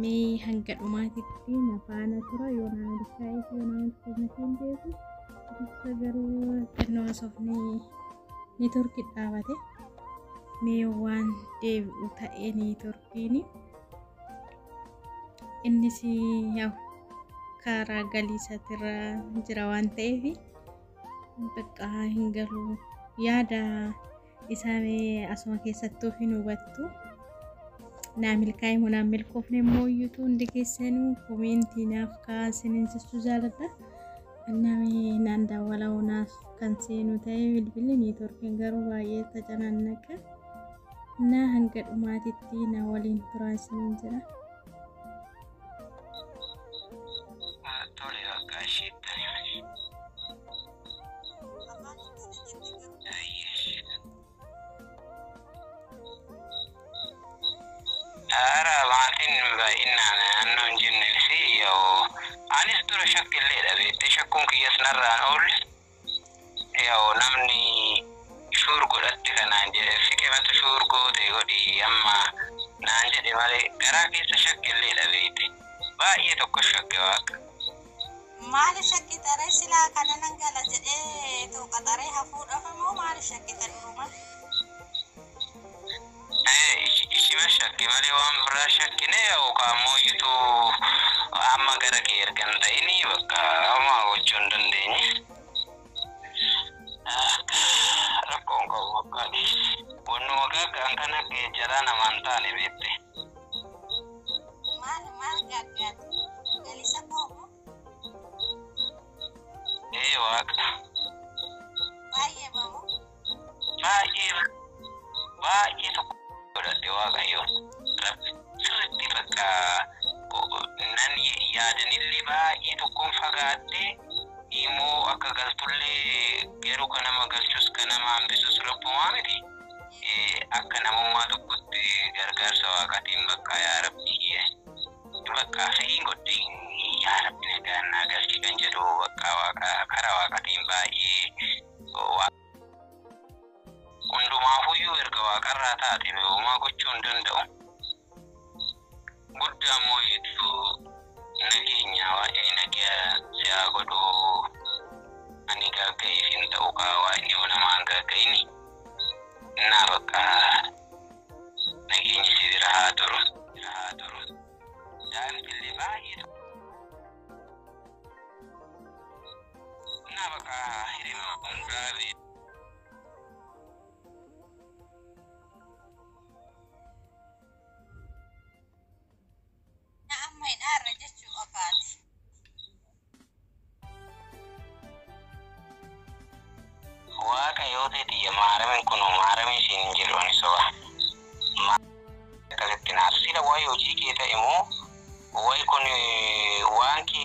mee hanga dhumaatitti na faana tura yoo na milkaa'eef yoo na milkoomneef hin beeku dursa garuu xinnoo haasofni neetworkii dhaabate mee waan deebi'u ta'ee neetworkiin innis yaw karaa galiisatirra jira waan ta'eef bakka hin galu yaada Isaa mee asuma keessattuu hin hubattu. Naa milkaa'e moo naa milkoofne immoo iyyutu hundi keessanuu koomeentii naaf kaa'aa isiniin jechuu jaaladha. Annaa mee naan daawwala naaf kan seenu ta'e bilbilli niitoorkiin garuu baay'ee tacanannaqa. Naa hanga dhumaatitti na waliin turaa isiniin jira. Tole bakka ishee. Afaan hin dandeenye garuu. Ara maatiin baay'inaan naannoo hin jenneen fi yoo anis dura shakkillee dhabeettee shakkuun kiyyas narraan oole yoo namni shuur godhatte kanaan jedhe fiqimatu shuur goote godhi amma naan jedhe malee garaa keessa shakkillee dhabeete baay'ee tokko shakke waaqa. Maaliif shakkita ree silaa kana nan gala jedhee too qaxaree hafuudhaaf immoo maaliif shakkita duruma? Ee, ishi- ishima shakke malee waan biraa shakkine yookaan immoo iyyutuu amma gara kee erga hin ta'ini bakka amma gochuu hin dandeenye. Akka rakkoon qabu bakka wannuma gaaggaan kan akka jaraan namaan taane beekte. Maal maal gaaggaate? Galisa koo moo? Ee waaqa. Baay'ee bamu. Baay'ee baay'ee tokko godhadhe waaqayyoon. Rabbi sirriitti bakka nan yaadanillee baay'ee tokkoon fagaattee immoo akka galtullee garuu kan nama galchus kan nama hambisus rabbumaa miti. akka namummaa tokkotti gargaarsa waaqatiin baqqaa yaa rabbii kiyya baqqaa fedhiin godhe yaa rabbi nagaan naa galchi kan jedhu baqqaa waaqa kara waaqatiin baay'ee hundumaafuyyuu erga waaqarraa taate homaa gochuu hin danda'u Gudda ammoo hedduu nageenya waaqni nagaa si haa godhu ani gaagga'iif hin ta'u kaa waaqni yoo namaa hin gaagga'ini innaa bakka nageenyi si bira haa turu bira haa turu daa'imti illee baay'ee tokko innaa bakka hirima hundaa bee Na amma hidhaarra jechuu qofaati. Waaqa yoo ta'e tiyya maaramin kunoo maaramii siin hin jedhu ani soba. Maa akkasitti naaf sila wayi hojii kee ta'e moo wayi kun waan kee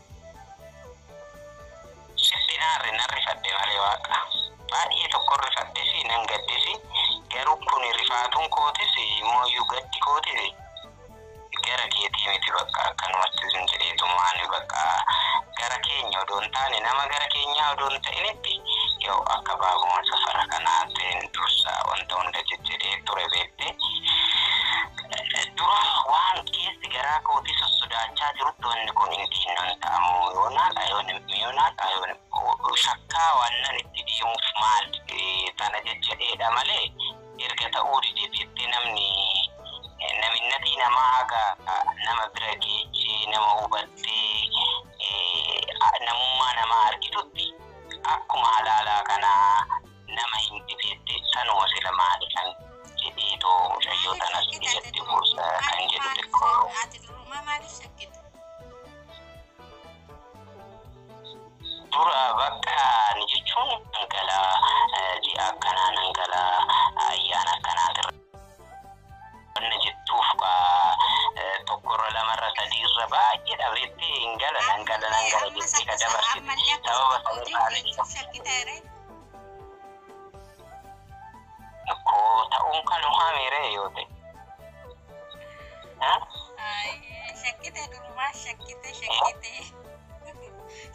Sirbi naarre nan rifadhe malee waaqa. Baay'ee tokkon rifadhesi nan gaddesi garuu kuni rifaatuun kootis immooyyuu gaddi kootis gara keetii miti baqqa akkanumatti zim jedheetuma ani baqqa gara keenya odoo hin taane nama gara keenyaa odoo hin ta'initti yaw akka baabuma safara kanaatin dursa wanta hunda jejjedhee ture beekte Dura waan keessi garaa kootii sossodaachaa jirutti wanni kun hin dhiinnan ta'a moo yoonaa ta'a yoon hin yoonaa ta'a yoon hin shakkaa waannan itti deemuuf maal tana jajjadheedha malee erga ta'uu dide jettee namni naminnatii namaa haga nama bira geechee nama hubattee namummaa namaa argitutti akkuma halaalaa kanaa nama hin dhifeetti sanuma sila maali kan jedheetu mucayyoo tanas ijatti buusa kan jedhu xiqqoo. Ati durumaa maaliif shakkite? Dura bakka ni jechuun nan gala ji'a akkanaa nan gala ayyaana akkanaatirra wanna jettuuf tokkorra lamarra sadiirra baay'ee dhabeetti hin gala nan gala nan gala jettee ka dabarsite sababa sanirraa shakkite. Koo ta'uun kan uumame ree yoo ta'e. Shakkite durumaa shakkite shakkite.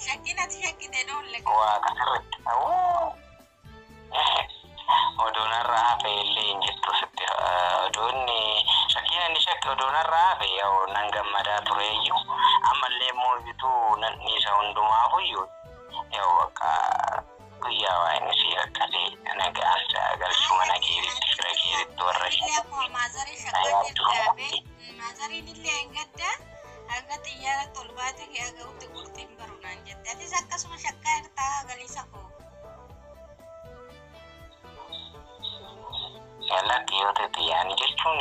Shakkiin ati shakkite dhoolle. Waaqa sirriitti ta'uu. Oduun har'a hafe illee hin jirtu sitti. Oduun shakkiin inni shakke oduun har'a hafe yoo nan gammadaa tureeyyuu ammallee immoo bituu nan dhiisa hundumaafuyyuu. Yoo bakka guyyaa waa inni sii rakkatee nagaan saa galchu mana keetitti fira keetitti warra kee. Illee akkuma maazarii shakkaatti dhaabe maazariin illee hin gadda hanga xiyyaaratti ol baatee kee aga'utti qurxiin baru naan jette. Atis akkasuma shakkaa irtaa galiisa koo. Lakki yoo ta'e xiyyaanii jechuun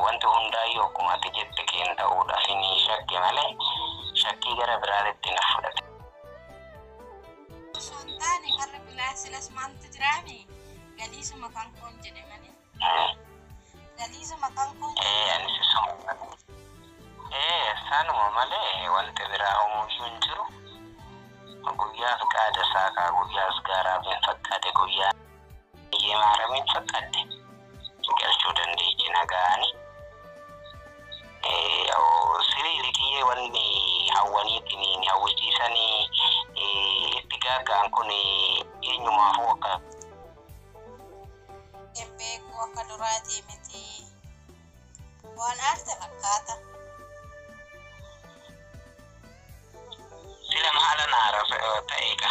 wanti hundaayyuu akkuma ati jette keen ta'uudhaaf ni shakke malee shakkii gara biraatti na fudhate. osoo hin taane warra bilaa silas maaltu jiraame galiisuma kan koon jedhe malee ee galiisuma kan koon ee anis isuma malee ee sanuma malee wanti biraa homuyyuu hin jiru guyyaa fiqaada isaa kaa guyyaa asgaaraa bin fakkaate guyyaa Iyyee maaramiin fakkaatte galchuu dandeechi nagaani. Sirii likiyyee wanni hawwaniitiin hin hawwisiisanii itti gaaggaan kun eenyumaafuu akka. Hin beeku akka duraatii miti. Waan aarte fakkaata. Sila maala naara ta'eeka.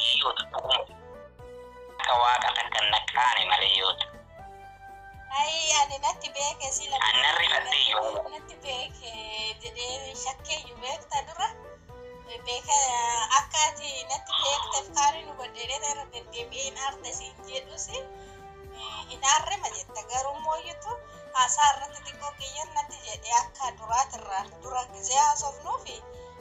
Iyyootu dhuguma akka waaqa takkan naqqaane malee yoota. Ayii ani natti beeke sila. Ani nan rifadhee yommuu. Natti beeke jedhee shakkeeyyu beekta dura. Beeka akka ati natti beekteef kaaniin hubadhee dheeta irra deddeebi'ee hin aarte siin jedhus hin aarre ma jetta garuu mooyyutu haasaa irratti xiqqoo qiyyan natti jedhee akka duraatirra dura gizee haasofnuufi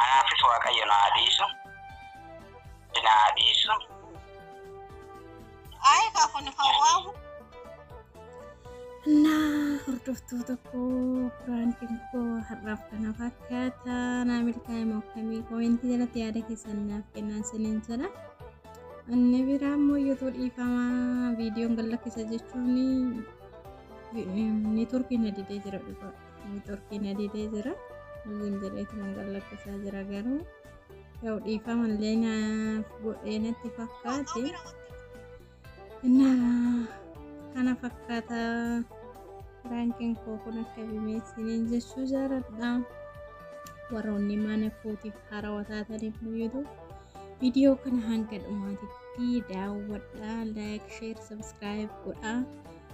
Anaafis Waaqayyo na haa dhiisu. Na haa dhiisu. Ayi kaa kun hawaawu. Naa hordoftoota koo piraankiin koo har'aaf kana fakkaata naa milkaa'ima akkamii koomentii jalatti yaada keessan naaf kennaa isiniin jedha. Inni biraa immoo youtube dhiifamaa viidiyoon gad lakkisa jechuun networkiin na didee jira dhugaa. Neetworkiin adidee jira. Loogiin jedheetu kan gallakkisaa jira garuu yoo dhiifama illee naaf godhee natti fakkaate. Innaa kana fakkaata raankiin koo kun akka bimeessiniin jechuu jaaladha. Warroonni mana kootiif haarawaa taatan immoo YouTube viidiyoo kana hanga dhumaatitti daawwadhaa, like, share, subscribe godhaa.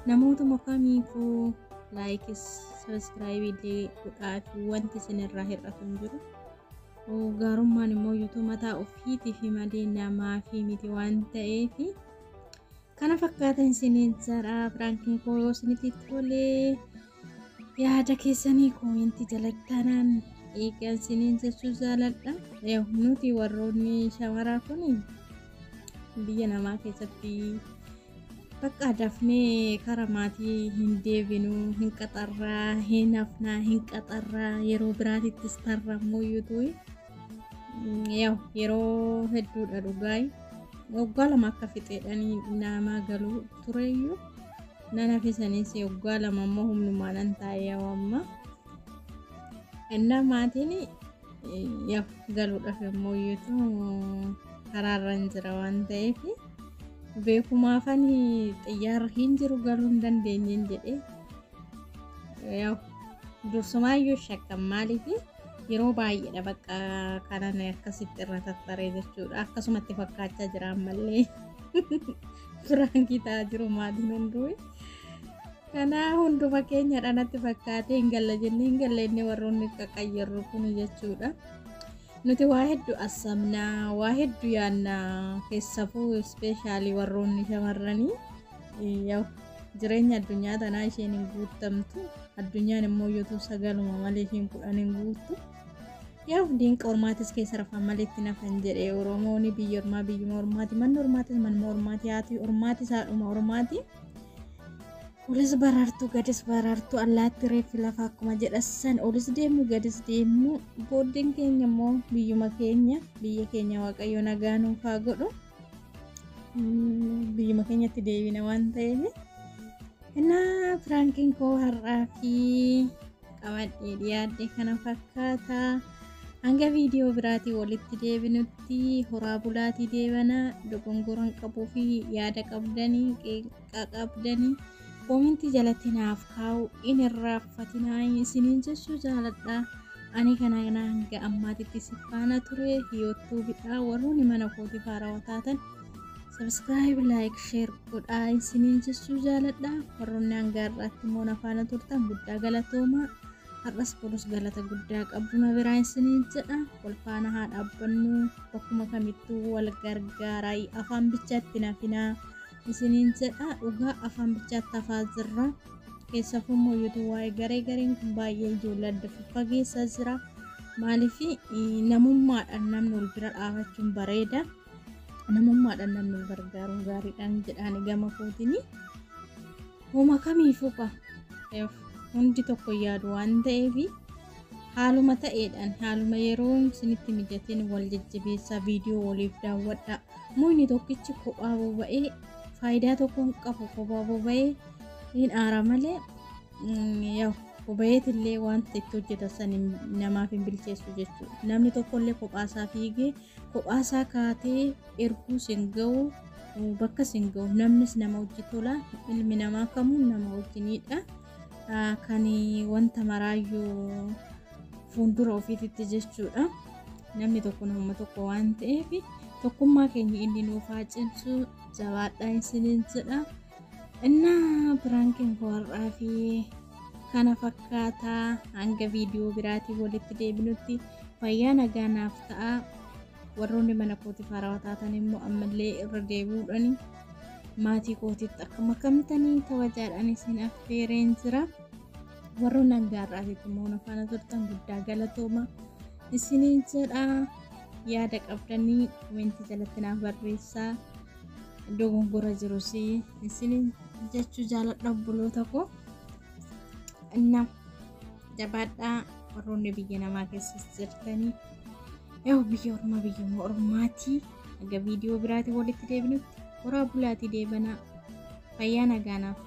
Namootuma kamiifuu laayikis sabiskiraayibii illee godhaafi wanti isin irraa hir'atu hin jiru. Gaarummaan immoo yuutuu mataa ofiitiif malee namaaf miti waan ta'eef kana fakkaatan isiniin jedha piraankiin koo yoo isinitti tolee. yaada keessanii koominti jalatti tanaan eegan siniin jechuu jaaladha Yaw, nuti warroonni shamaraa kun biyya namaa keessatti bakka dafnee kara maatii hin deebinu hin qaxarraa hin hafnaa hin qaxarraa yeroo biraatittis tarrammoo yuutuu yaw yeroo hedduudha dhugaay waggaa lama akka fixeedhanii naamaa galuu tureeyyuu nan hafe saniis waggaa lama ammoo humnumaa nan taa'ee amma innaa maatiin yaa galuudhaaf immoo iyyuutu karaarra hin jira waan ta'eef beekumaafan xiyyaarra hin jiru galuu hin dandeenyeen jedhee yaa dursumaayyu shakkan maaliif yeroo baay'eedha bakka kanan akkasitti irra tattaree jechuudha akkasumatti fakkaachaa jira ammallee. Piraankii ta'aa jiru maatiin hunduu. Kanaa hunduma keenyadha natti fakkaatee hin galla jennee hin galla inni warroonni qaqqayyarru kun jechuudha. Nuti waa hedduu assamna, waa hedduu yaanna keessafuu ispeeshaalii warroonni shamarranii yaw jireenya addunyaa tanaa isheen hin guuttamtu. Addunyaan immoo yotuu sagaluma malee isheen kudhan hin guuttu. Yaa hundiin qormaatis keessa rafaan malee itti nafan jedhe Oromooni biyya ormaa biyyuma ormaati manni ormaatis manuma ormaati haati ormaatis haadhuma ormaati. Olis baraartuu gadis baraartuu allaatti reeffi lafa akkuma jedhassan olis deemu gadis deemu booddeen keenya immoo biyyuma keenya biyya keenya waaqayyo nagaa nuuf haa godhu biyyuma keenyatti deebina waan ta'eef. Innaa piraankiin koo har'aa fi qabadhee dhiyaadhe kana fakkaata hanga viidiyoo biraatii walitti deebinutti horaa bulaatii deebana dogongoran qabuu fi yaada qabdanii qeeqa qabdanii koomintii jalatti naaf kaa'u in irraaffatinaa isiniin jechuu jaaladha ani kana hanga ammaatitti si faana ture youttuubidha warroonni mana kootii faarawaa taatan Subscribe, like, share godhaa isiniin jechuu jaaladha. Warroonni hanga har'aatti immoo na faana turtan guddaa galatoomaa. Har'as borus galata guddaa qabdu na biraa isiniin jedha. Wal faana haa dhaabbannu bakkuma kamittuu wal gargaaraa afaan bichaatti nafinaa isiniin jedha. Dhugaa afaan bichaatti hafaa jirra. Keessafuu immoo yuutuu waa'ee garee gareen kun baay'ee ijoollee adda faggeessaa jira. Maaliif namummaadhaan namni wal bira dhaabachuun bareeda. namummaadhaan namni gargaaruun gaariidhaan jedhaani gama kootiin homa kamiifuu ka hundi tokko yaadu waan ta'eef haaluma ta'eedhaan haaluma yeroon isinitti mijateen wal jajjabeessaa viidiyoo waliif daawwadhaa muyni tokkichi kophaa boba'ee faayidaa tokko hin qabu kophaa boba'ee hin aara malee Yaw obayeetillee wanta itti hojjeta san namaaf hin bilcheessu jechuudha. Namni tokkollee kophaasaa fiigee kophaasaa kaatee erguu sin ga'u bakka sin ga'u namnis nama hojii tola ilmi namaa kamuu nama wajjiniidha. Kan wanta maraayyuu fuuldura ofiititti jechuudha. Namni tokko nama tokko waan ta'eef tokkummaa keenya inni nuuf haa cimsu jabaadhaa isiniin jedha. Inna piraankiin koo har'aa fi kana fakkaata hanga viidiyoo biraatiin walitti deebinutti fayyaa nagaa naaf ta'a. Warroonni mana kootiif haarawaa taatan immoo ammallee irra deebi'uudhaan maatii kootiitti akka makamtanii kabajaadhaan isin affeereen jira. Warroonni hanga har'aatitti immoo na faana turtan guddaa galatooma isiniin jedha. Yaada qabdanii komentii jalatti naaf barreessaa. dogongora jiru si isinin jechuu jaaladha obboloota koo nam jabaadhaa warroonni biyya namaa keessas jirtanii yoo biyya ormaa biyya ormaatii aga viidiyoo biraatiin walitti deebinutti horaa bulaatii deebanaa fayyaa nagaanaaf